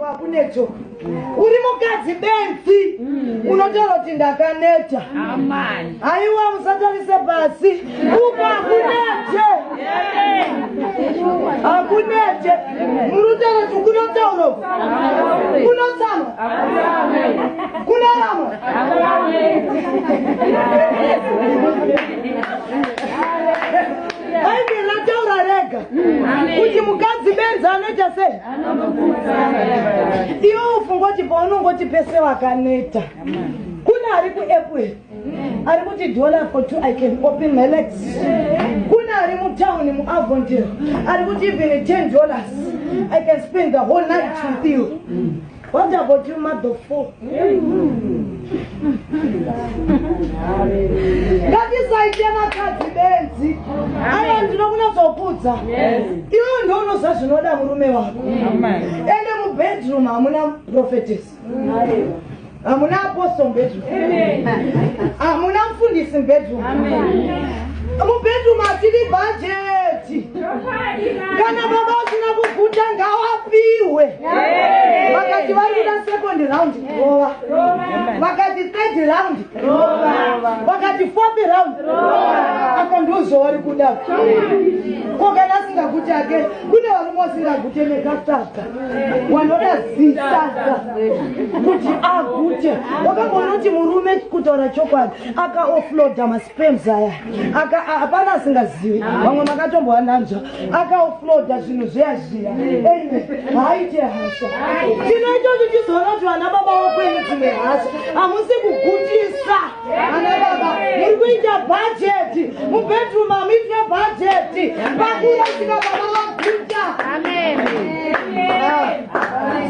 Pakunetso uri mukadzi benzi mm. unotaura kuti ndakaneta haiwa musatarise pasi uko hakunete hakunete murutaura kuti kunotaura kunotsamwa kunoramwa bhaibheri rataura rega mm. kuti mukadzi benzi anoita sei iwe ufungoti paunongoti pese wakaneta kune ari kuapple ari kuti dollar for two i can open my legs kune ari mutown muavontir ari kuti even ten dollars i can spend the whole night with you What about you mother four? Ngatisaite vakadzi benzi. Aya ndinokunatsokuudza. Iwe ndiwe unoziva zvinoda murume wako. Ende mubedroom hamuna prophetess. Hamuna apostle bedroom. Hamuna mfundisi bedroom. mubedroom atidi bhajeti kana baba usina kuguta ngawapiwe vakati vari kuda second round rova vakati third round rova vakati fourth round rova apa ndozo wari kuda ko kana asingaguti ake kune varume wasingagute nekataka wanoda zisaka kuti agute wakamboona kuti murume kutaura chokwadi akaofloda mas Sperms aya aka hapana asingazivi vamwe makatombowa nanzva akaofloda zvinhu zviya zviya ende haaite hasha chino ichocho chizoona kuti vana baba wakwenu dzimwe hasha hamusi kugutisa ana baba muri kuita bhajeti mubedroom hamuitwe bhajeti pakurasika baba vaguta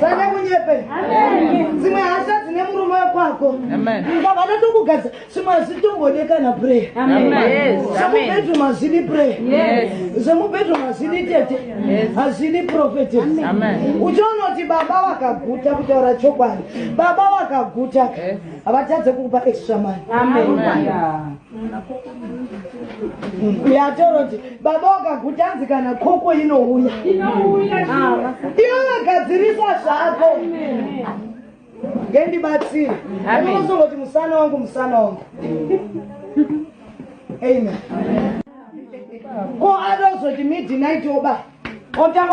sane ah, munyepe dzimwe hasha dzine murume wekwako baba natokugadza Simazi tombode kana pray. Amen. Yes. Amen. Semupetu mazidi pray. Yes. Semupetu mazidi tete. Yes. Hazidi prophet. Amen. Uchaona kuti baba wakaguta kutaura chokwadi. Baba wakaguta. Yes. Havatadze kukupa extra money. Amen. Amen. Uyatoro kuti baba wakaguta hanzi kana koko inouya. Inouya. Iwe vagadzirisa zvako. Amen. ngendibatsire anozongoti musana wangu musana wangu amen ko adozoti midnight oba otanga